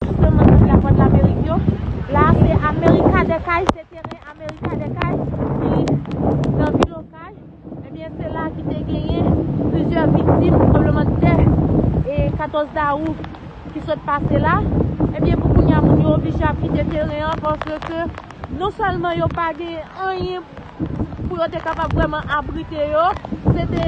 Tout le monde nan la voix de l'Amérique yo la se America des Cayes se teren America des Cayes ki nan vil Okay ebyen se la ki te genyen plizyè viktim tranbleman de tè 14 dawou ki sot pase la ebyen pou kounya moun yo oblije ap kite teren an paske ke non sèlman yo pa genyen anyen pou yo te kapab vrèman abrite yo se te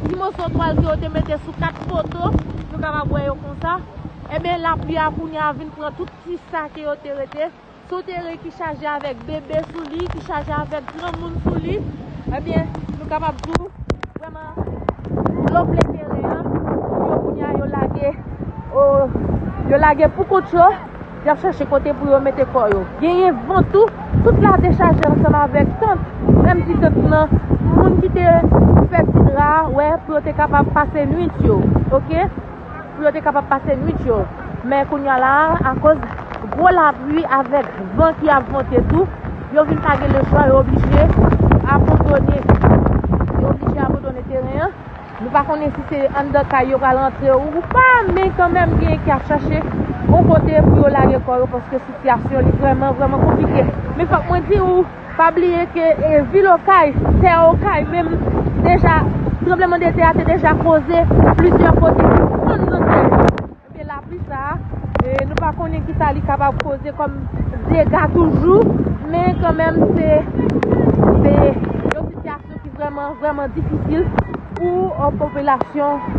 ti moso twal ke yo te mete sou 4 poto nou kapab wè yo konsa. Enben, lapli a kounye a vin pran tout ti sa ke yo te rete, si w te re ki chaje avèk bebe sou li, ki chaje avèk granmoun sou li, enben, nou kapab di w, vrèman, dlo plen teren an, moun yo kounye a yo lage, o, yo lage pou kont yo, y ap chache kote pou yo mete kò yo. Genyen van tou, tout la te chaje ansanm avèk tant, menm ti tant nan, pou moun ki te fè ti dra a, wè, pou yo te kapab pase nwit yo. Ok? pou yo te kapab pase nwit yo. Men kounya la a, akoz gwo lapli avèk van ki ap vante tou, yo vin pa gen lechwa, yo oblije abandone. Yo oblije abandone teren an. Nou pa konnen si se anndan kay yo pral rantre ou pa, men kanmenm genyen ki ap chache yon kote pou yo lage kò yo paske sitiyasyon li vrèman, vrèman konplike. Men fòk mwen di ou. Pa bliye ke vil Okay, tè Okay menm deja tranbleman de tè a te deja koze plizyè kote ki fon nan tè yo. Ebyen lapli sa a nou pa konnen kisa li kapab koze kòm dega toujou men kanmenm se yon sitiyasyon ki vrèman vrèman difisil pou popilasyon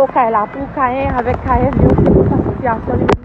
Okay la, pou Kayen avèk Kayèn yo se konsa sitiyasyon li menm.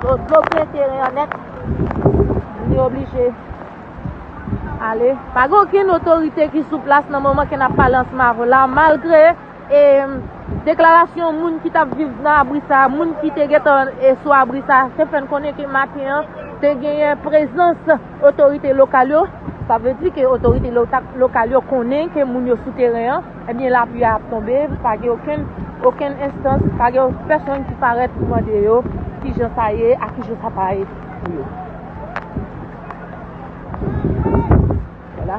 Dlo plen teren an nèt. Nou te oblije ale. Pa gen okenn otorite ki sou plas nan moman ke n ap pale ansanm avè w la. Malgre deklarasyon moun ki t ap viv nan abri sa a, moun ki te gentan sou abri sa a te fè n konnen ke maten an te genyen prezans otorite lokal yo. Sa vle di ke otorite lokal yo konnen ke moun yo sou teren an. Ebyen lapli a ap tonbe, pa gen okenn, okenn enstans, pa gen pèsonn ki parèt pou mande yo ki jan sa ye ak ki jan sa pa ye pou yo. Wala.